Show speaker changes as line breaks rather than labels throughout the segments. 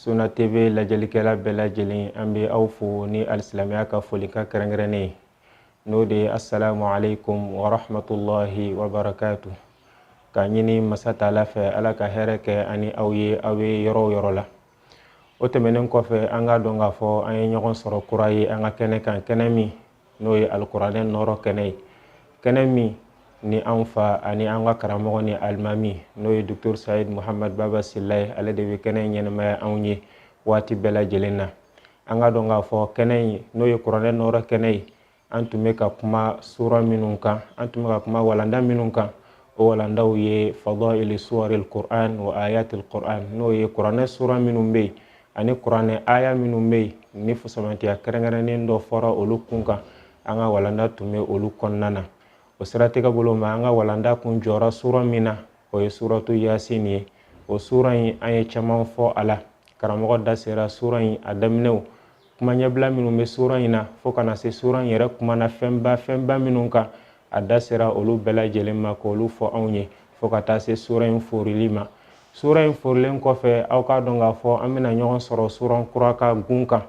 suna TV lajɛlikɛla bɛɛ lajɛlen an bɛ aw fo ni alisilamɛya ka folikan kɛrɛnkɛrɛnnen ye n'o de ye asalamu aleykum warahmatulahi wabarakatu k'a ɲini masa taala fɛ ala ka hɛrɛ kɛ an ni aw ye aw bɛ yɔrɔ o yɔrɔ la o tɛmɛnen kɔfɛ an k'a dɔn k'a fɔ an ye ɲɔgɔn sɔrɔ kura ye an ka kɛnɛ kan kɛnɛ min n'o ye alikuranɛ nɔɔrɔ kɛnɛ ye kɛnɛ min ni anw fa ani an ka karamɔgɔ ni alimami n'o ye docteur sayid muhamad baba sila ye ale de bɛ kɛnɛ in ɲɛnamaya anw ye waati bɛɛ lajɛlen na an k'a dɔn k'a fɔ kɛnɛ in n'o ye kuranɛ nɔɔrɔ kɛnɛ ye an tun bɛ ka kuma sura minnu kan an tun bɛ ka kuma walanda minnu kan o walandaw ye fadayili suwaril kuran wa ayatil kuran n'o ye kuranɛ sura minnu bɛ yen ani kuranɛ aya minnu bɛ yen ni fusamantiya kɛrɛnkɛrɛnnen dɔ fɔra olu kun kan an ka walanda tun bɛ olu kɔnɔna na o siratigɛ bolo ma an ka walanda tun jɔra sura min na o ye suratu yasin ye o sura in an ye caman fɔ a la karamɔgɔ da sera sura in a daminɛw kuma ɲɛbila minnu bɛ sura in na fo ka na se sura in yɛrɛ kuma na fɛnba fɛnba minnu kan a da sera olu bɛɛ lajɛlen ma k'olu fɔ anw ye fo ka taa se sura in forili ma sura in forilen kɔfɛ aw k'a dɔn k'a fɔ an bɛna ɲɔgɔn sɔrɔ sura kura ka kun kan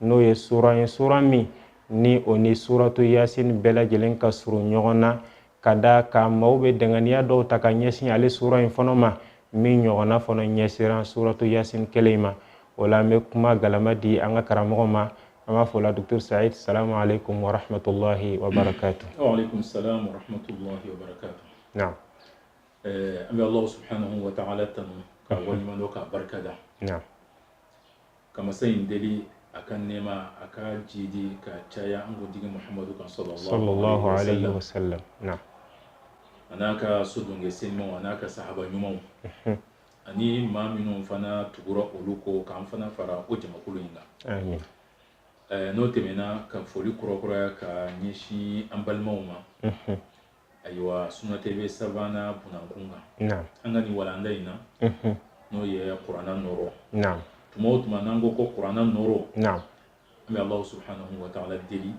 n'o ye sura ye sura min ni o ni suratu yasin bɛɛ lajɛlen ka surun ɲɔgɔn na ka d'a kan maaw bɛ danganiya dɔw ta ka ɲɛsin ale sura in fana ma min ɲɔgɔnna fana ɲɛsinna suratu yasin kelen in ma o la an bɛ kuma galama di an ka karamɔgɔ ma an b'a fɔ la docteur said salamu aleykum wa rahmatulahi wa barakatu. wa aleykum salam wa rahmatulahi wa barakatu. Ɛɛ an bɛ Alahu subahanahu wataala tanu k'a waleɲuman dɔn k'a barika da, naamu, ka masa in deli a ka nɛɛma a ka jiidi ka caya an kuntigi Mahamadu kan salalahu alehi wasalam, naamu, a n'a ka sodonkɛ senimaw a n'a ka sahaba ɲumanw, unhun, ani maa minnu fana tugura olu kɔ k'an fana fara o jamakulu in kan, amin, ɛɛ n'o tɛmɛna ka foli kurakuraya ka ɲɛsin an balimaw ma, unhun. ayiwa suna TV sabanan kun kan an ka nin walanda in na n'o ye kuranɛ nɔɔrɔ tuma o tuma n'an ko ko kuranɛ nɔɔrɔ an bɛ alahu subahanahu wataala deli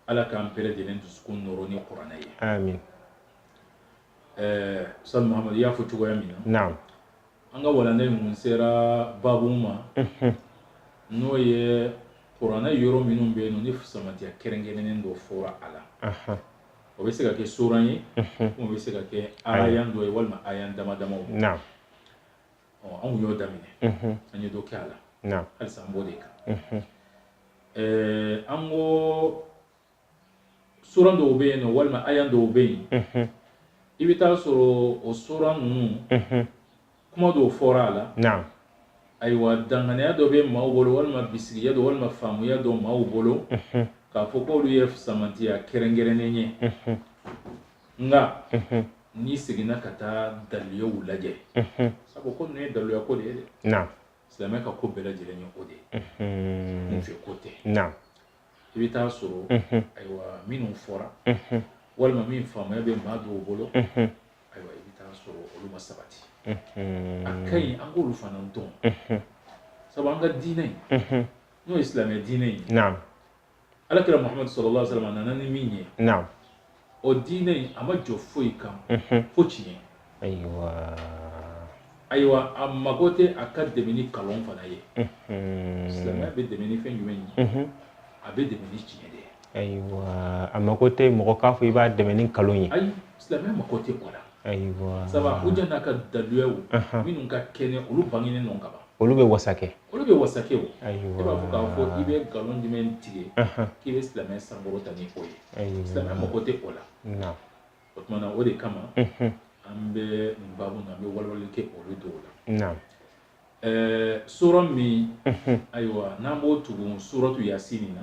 ala k'an bɛɛ lajɛlen dusukun nɔɔrɔ ni kuranɛ ye ɛɛ sa mahamadu i y'a fɔ cogoya min na An ka walanda in tun sera babu ma, unhun, n'o ye kuranɛ yɔrɔ minnu bɛ yen ni fusamanciya kɛrɛnkɛrɛnnen dɔ fɔra a la, anhan, o bɛ se ka kɛ sura ye, unhun, ou bien o bɛ se ka kɛ aya dɔ ye walima aya dama damaw, naamu, ɔ an tun y'o daminɛ, unhun, an ye dɔ kɛ a la, naamu, halisa an b'o de kan, unhun, ɛɛ an ko sura dɔw bɛ yen nɔ walima aya dɔw bɛ yen i bɛ taa sɔrɔ o sura ninnu kuma dɔw fɔra a la ayiwa danganiya dɔ bɛ maaw bolo walima bisigiya dɔ walima faamuya dɔ maaw bolo k'a fɔ k' olu ye fisamantiya kɛrɛnkɛrɛnnen ye nka n'i seginna ka taa daliluyaw lajɛ sabu ko nin ye daluya ko de ye dɛ silamɛ ka ko bɛɛ lajɛlen ye o de ye n fɛ ko tɛ i bɛ taa sɔrɔ ayiwa minnu fɔra walima min faamuya bɛ maa dɔw bolo ayiwa i bɛ taa sɔrɔ olu ma sabati a ka ɲi an k'olu fana dɔn sabu an ka diinɛ in n'o ye silamɛ diinɛ in ala kira mahamadu salalahu alehi wa salamu a nana ni min ye o diinɛ in a ma jɔ foyi kan fo tiɲɛ ayiwa ayiwa a mago tɛ a ka dɛmɛ ni kalon fana ye silamɛya bɛ dɛmɛ ni fɛn jumɛn ye a bɛ dɛmɛ ni tiɲɛ de ye ayiwa a mago tɛ mɔgɔ k'a fɔ i b'a dɛmɛ ni kalon ye ayi silamɛya mago tɛ o la ayiwa sabu u jɛ n'a ka daluyaw minnu ka kɛnɛ olu bangenen nɔ kaban olu bɛ wasa kɛ olu bɛ wasa kɛ e b'a fɔ k'a fɔ i bɛ nkalon jumɛn tigɛ k'i bɛ silamɛ sankɔrɔta ni o ye silamɛ mago tɛ o la o tuma na o de kama an bɛ nin babu na an bɛ walawalali kɛ olu dɔw la ɛɛ sura min ayiwa n'an b'o tugu suratu yasini na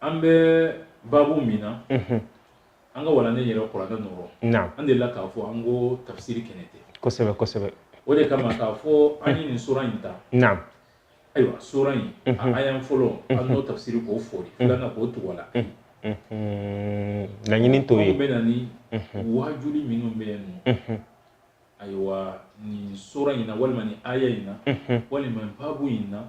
an bɛ babu min na an ka walanda in yɛrɛ kɔrɔkɛ nɔrɔ an de la k'a fɔ an ka tafisiri kɛnɛ tɛ kosɛbɛ kosɛbɛ o de kama k'a fɔ an ye nin sura in ta ayiwa sura in aya fɔlɔ an n'o tafisiri k'o fɔri filanan k'o tɔgɔ la laɲini t'o ye bɛ na ni wajuli minnu bɛ yan nɔ ayiwa nin sura in na walima nin aya in na walima babu in na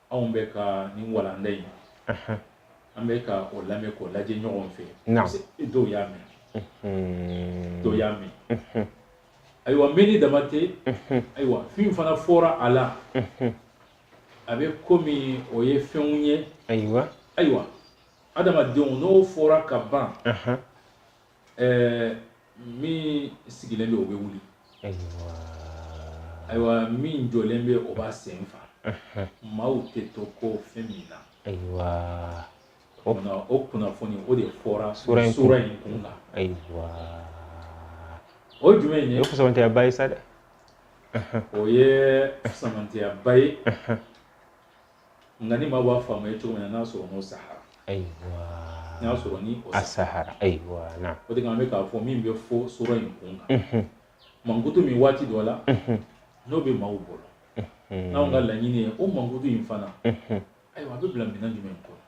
anw bɛ ka nin walanda in an bɛ ka o lamɛn k'o lajɛ ɲɔgɔn fɛ dɔw y'a mɛn dɔw y'a mɛn ayiwa mɛnni dama tɛ ayiwa fɛn fana fɔra a la a bɛ komi o ye fɛnw ye ayiwa ayiwa adamadenw n'o fɔra ka ban ɛɛ min sigilen bɛ o bɛ wuli ayiwa min jɔlen bɛ o b'a sen fa maaw tɛ to kɔ fɛn min na ayiwa o kunna o kunnafoni o de fɔra sura in sura in kun na ayiwa o ye jumɛn ye o ye fisamantiyaba ye sa dɛ o ye fisamantiyaba ye nka ni maa b'a faamuya cogo min na n'a sɔrɔ n'o sahara ayiwa n'a sɔrɔ ni o sahara ayiwa na o de kan an bɛ k'a fɔ min bɛ fɔ sura in kun kan mankutu min waati dɔ la n'o bɛ maaw bolo n'anw ka laɲini ye o mankutu in fana ayiwa a bɛ bila minɛn jumɛn kɔnɔ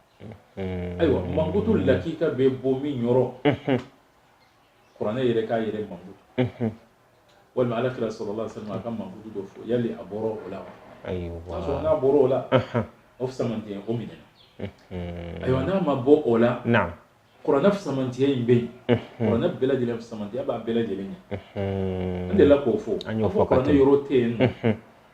ayiwa mankutu lakika bɛ bɔ min yɔrɔ kuranɛ yɛrɛ k'a yɛrɛ mankutu walima ala kira salalahu alayihi wa salamu a ka mankutu dɔ fɔ yali a bɔra o la wa sɔrɔ n'a bɔra o la fusamantiya in o minɛna ayiwa n'a ma bɔ o la kuranɛ fusamantiya in bɛ yen kuranɛ bɛɛ lajɛlen fusamantiya b'a bɛɛ lajɛlen ɲɛ n delila k'o fɔ k'a fɔ kuranɛ yɔrɔ tɛ yen nɔ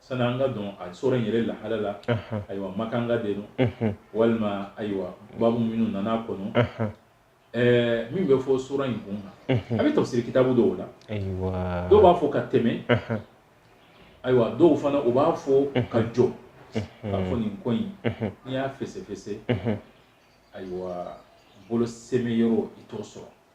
sani an ka don a sura in yɛrɛ lahala la ayiwa makanka de don walima ayiwa babu minnu nana a kɔnɔ ɛɛ min bɛ fɔ sura in kun kan a bɛ tafsiri kitabu dɔw la dɔw b'a fɔ ka tɛmɛ ayiwa dɔw fana u b'a fɔ ka jɔ k'a fɔ nin ko in n'i y'a fɛsɛfɛsɛ ayiwa bolo sɛmɛ yɔrɔ i t'o sɔrɔ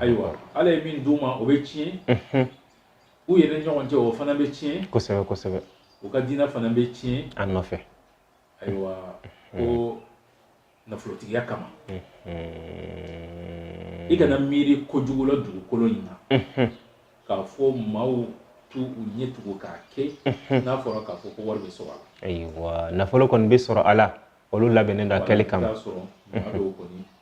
ayiwa ala ye min d'u ma o bɛ tiɲɛ u yɛrɛ ɲɔgɔn cɛ o fana bɛ tiɲɛ kosɛbɛ kosɛbɛ u ka diinɛ fana bɛ tiɲɛ a nɔfɛ ayiwa ko nafolotigiya kama i kana miiri kojugu la dugukolo in na k'a fɔ maaw t'u ɲɛ tugu k'a kɛ n'a fɔra k'a fɔ ko wari bɛ sɔrɔ a la ayiwa nafolo kɔni bɛ sɔrɔ a la olu labɛnnen don a kɛli kama sɔrɔ maa dɔw kɔni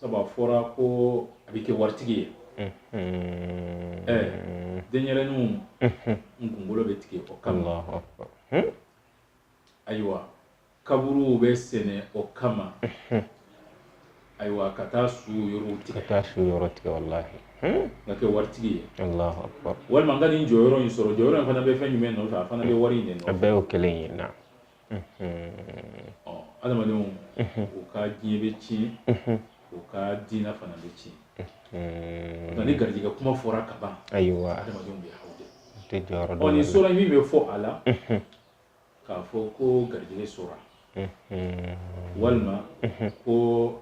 sabu a fɔra ko a bɛ kɛ waritigi ye ɛɛ denyɛrɛninw kunkolo bɛ tigɛ o kama ayiwa kaburuw bɛ sen o kama ayiwa ka taa su yɔrɔw tigɛ ka taa su yɔrɔ tigɛ walasa ka kɛ waritigi ye walima n ka nin jɔyɔrɔ in sɔrɔ jɔyɔrɔ in fana bɛ fɛn jumɛn nɔfɛ a fana bɛ wari in de nɔfɛ a bɛɛ y'o kelen ye na ɔ adamadenw u ka diɲɛ bɛ tiɲɛ u ka diinɛ fana bɛ tiɲɛ nka ni garijɛgɛ kuma fɔra ka ban ayiwa adamadenw bɛ haw de ɔ nin sura in min bɛ fɔ a la k'a fɔ ko garijɛgɛ sura walima ko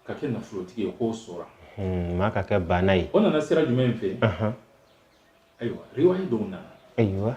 ka kɛ nafolotigi ye k'o sura maa ka kɛ baana ye o nana sira jumɛn fɛ ayiwa riwayi dɔw nana ayiwa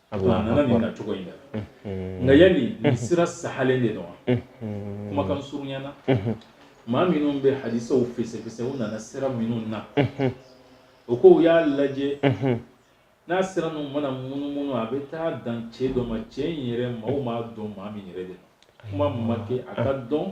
a nana nin na cogo in na nka yali nin sira sahalen de don wa kumakan surunya na maa minnu bɛ hadisaw fɛsɛfɛsɛ u nana sira minnu na o ko u y'a lajɛ n'a sira ninnu mana munumunu a bɛ taa dan cɛ dɔ ma cɛ in yɛrɛ maaw m'a dɔn maa min yɛrɛ de kuma ma kɛ a ka dɔn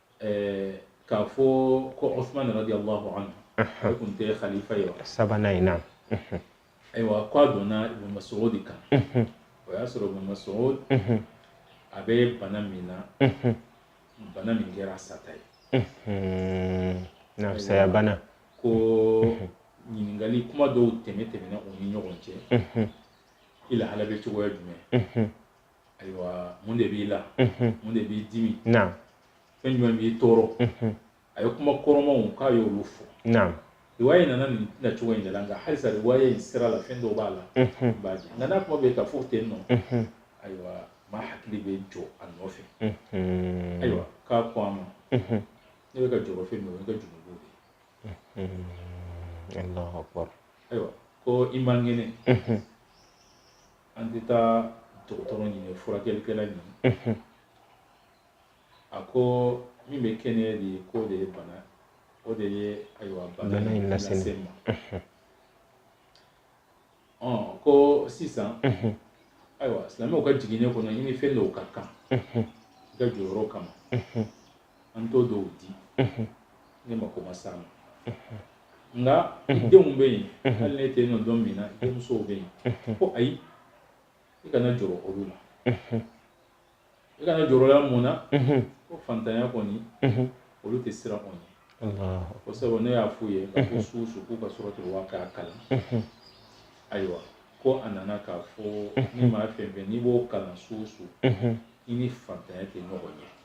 ɛɛ k'a fɔ ko Usman radiyallahu anhu o tun tɛ khalifa ye wa sabanan in na ayiwa k'a donna Ibn Mas'ud kan o y'a sɔrɔ Ibn Mas'ud a bɛ bana min na bana min kɛra sata ye na saya bana ko ɲininkali kuma dɔw tɛmɛ tɛmɛna u ni ɲɔgɔn cɛ i lahala bɛ cogoya jumɛn ayiwa mun de b'i la mun de b'i dimi fɛn jumɛn b'i tɔɔrɔ a ye kuma kɔrɔmaw k'a ye olu fɔ riwaya in nana nin na cogo in de la nka halisa riwaya in sira la fɛn dɔw b'a la b'a jɛ nka n'a kuma bɛ ka fɔ ten nɔ ayiwa maa hakili bɛ jɔ a nɔfɛ ayiwa k'a ko a ma ne bɛ ka jɔrɔ fɛn min o ye n ka junubu de ye ayiwa ko i man kɛnɛ an tɛ taa dɔgɔtɔrɔ ɲini furakɛlikɛla ɲini a ko min bɛ kɛnɛya di k'o de ye bana o de ye ayiwa bana in lase n ma ɔ ko sisan ayiwa silamɛw ka jiginɛ kɔnɔ i ni fɛn dɔw ka kan i ka jɔyɔrɔ kama an t'o dɔw di e ma ko a ma s'a ma nka i denw bɛ yen hali n'e tɛ yen nɔ don min na denmusow bɛ yen ko ayi i kana jɔrɔ olu la i kana jɔrɔ u la mun na ko fantanya kɔni olu tɛ siran o ɲɛ ko sabu ne y'a f'u ye ko su su k'u ka Suratul Waqi'a kalan ayiwa ko a nana k'a fɔ ni maa fɛn fɛn n'i b'o kalan su su i ni fantanya tɛ ɲɔgɔn ye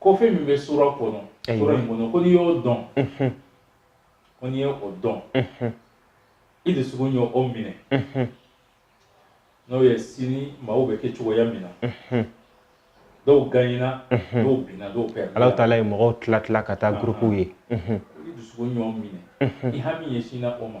ko fɛn min bɛ sura kɔnɔ sura in kɔnɔ ko n'i y'o dɔn ko n'i ye o dɔn i dusukun y'o o minɛ n'o ye sini maaw bɛ kɛ cogoya min na dɔw ganyina dɔw binna dɔw pɛrɛn Ala taala ye mɔgɔw tila tila ka taa gurupuw ye i dusukun y'o minɛ i hami ɲɛsinna o ma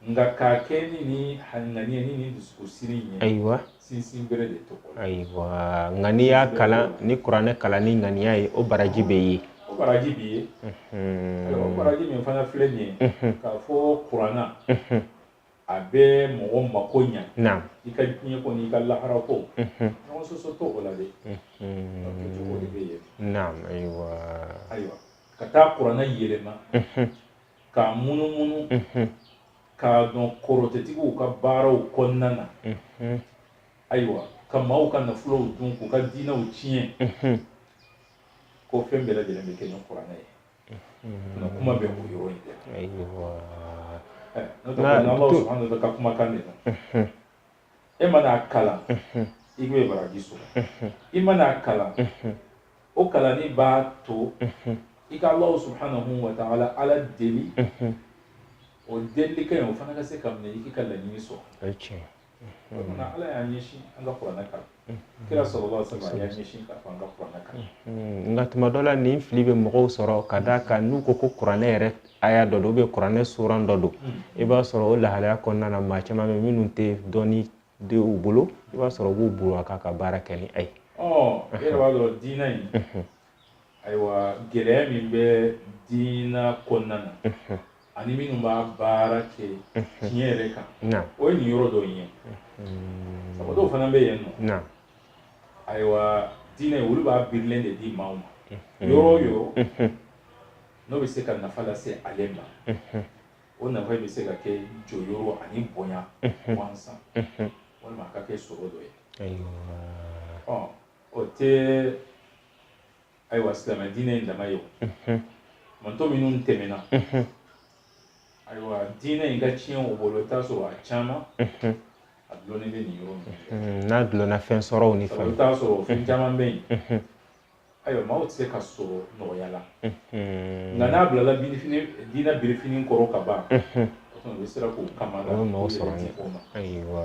nka k'a kɛ ni ni ŋaniya ni ni dusukun siri ye ayiwa sinsinbere de t'o ayiwa nka n'i y'a kalan ni kuranɛ kalan ni ŋaniya ye o baraji bɛ yen o baraji bɛ yen o baraji min fana filɛ nin ye k'a fɔ kurana a bɛ mɔgɔ mako ɲa i ka diɲɛ ko n'i ka lahara ko ɲɔgɔn sɔsɔ t'o la dɛ cogo de bɛ yen ayiwa ayiwa ka taa kurana yɛlɛma k'a munumunu k'a don kɔrɔtɛtigiw ka baaraw kɔnɔna na ayiwa ka maaw ka nafolow dun k'u ka diinɛw tiɲɛ ko fɛn bɛɛ lajɛlen bɛ kɛ ni kuranɛ ye nka kuma bɛ o yɔrɔ in de la n'o tɛ n'Ala subahana wataala ka kumakan de la e man'a kalan i ye baraji sɔrɔ i man'a kalan o kalanni b'a to i ka Alahu subahanahu wa taala Ala deli o delili kɛ o fana ka se ka minɛ i k'i ka laɲini sɔrɔ o tuma Ala y'an ɲɛsin an ka kuranɛ kalan kira salalahu alayhi wa salam y'an ɲɛsin ka fanga kuranɛ kan nka tuma dɔ la nin fili bɛ mɔgɔw sɔrɔ ka d'a kan n'u ko ko kuranɛ yɛrɛ aya dɔ don ou bien kuranɛ suran dɔ don i b'a sɔrɔ o lahalaya kɔnɔna na maa caman bɛ minnu tɛ dɔnni de u bolo i b'a sɔrɔ u b'u bolo a kan ka baara kɛ ni a ye ɔ e yɛrɛ b'a dɔn diinɛ in ayiwa gɛlɛya min bɛ diina kɔnɔna na ani minnu b'a baara kɛ tiɲɛ yɛrɛ kan o ye nin yɔrɔ dɔ ye sababu dɔw fana bɛ yen nɔ ayiwa diinɛ olu b'a birilen de di maaw ma yɔrɔ o yɔrɔ n'o bɛ se ka nafa lase ale ma o nafa bɛ se ka kɛ jɔyɔrɔ ani bonya gansan walima a ka kɛ sɔrɔ dɔ ye o tɛ ayiwa silamɛ diinɛ in dama ye o mantɔn minnu tɛmɛna ayiwa diinɛ in ka tiɲɛ o bolo i t'a sɔrɔ a caman a dulonni bɛ nin yɔrɔ min n'a dulonna fɛn sɔrɔw ni fɛnw i t'a sɔrɔ fɛn caman bɛ yen ayiwa maaw tɛ se ka sɔrɔ nɔgɔya la nka n'a bilala diinɛ birifini kɔrɔ ka ban o bɛ siran k'o kama la o ye maaw sɔrɔ o ma ayiwa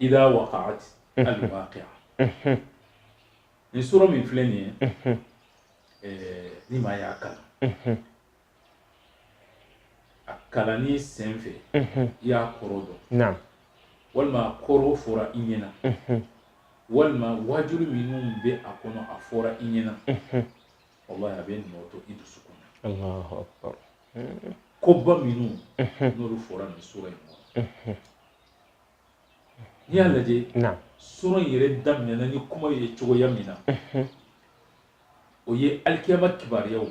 ida waqa'at al-waqi'a ni sura min filɛ nin ye eh, ni maa y'a kalan a kalanni sen fɛ i y'a kɔrɔ dɔn walima a kɔrɔ fɔra i ɲɛna walima waajuli minnu bɛ a kɔnɔ a fɔra i ɲɛna wallahi a bɛ nɔ to i dusukun na koba minnu n'olu fɔra nin sura in kɔnɔ N'i y'a lajɛ sura in yɛrɛ daminɛna ni kuma ye cogoya min na o ye alikiyama kibaruyaw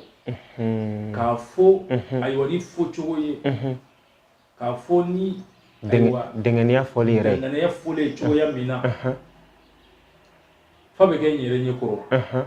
k'a fɔ ayiwa ni fɔ cogo ye k'a fɔ ni dɛnkɛnɛya fɔlen yɛrɛ ye fɔlen cogoya min na f'a bɛ kɛ an yɛrɛ ɲɛ kɔrɔ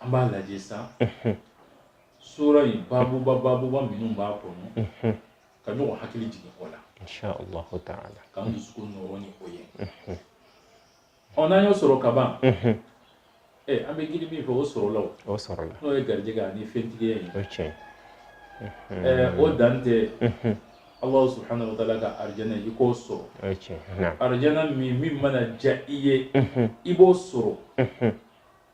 An b'a lajɛ sa sura in baabuba baabuba minnu b'a kɔnɔ ka ɲɔgɔn hakili jigin o la ka dusu ɲɔgɔn o ye ɔ n'an y'o sɔrɔ kaban ee an bɛ g min fɔ o sɔrɔla o sɔrɔ n'o ye garijɛ ani fɛntigi ye o dan tɛ aw' sɔrɔ hali bɛ taa ka arijinɛ i k'o sɔrɔ arijinɛ min min mana diya i ye i b'o sɔrɔ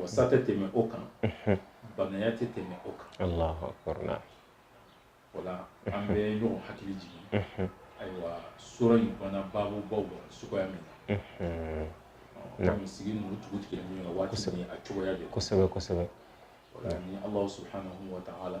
wasa tɛ tɛmɛ o kan baanaya tɛ tɛmɛ o kan wala an bɛ ɲɔgɔn hakili jigin ayiwa sura in fana babu baw la suguya min na kɔmi sigi ninnu tugu tugulen ɲɔgɔn na waati min a cogoya de kosɛbɛ kosɛbɛ ni Alahu subahanahu wataala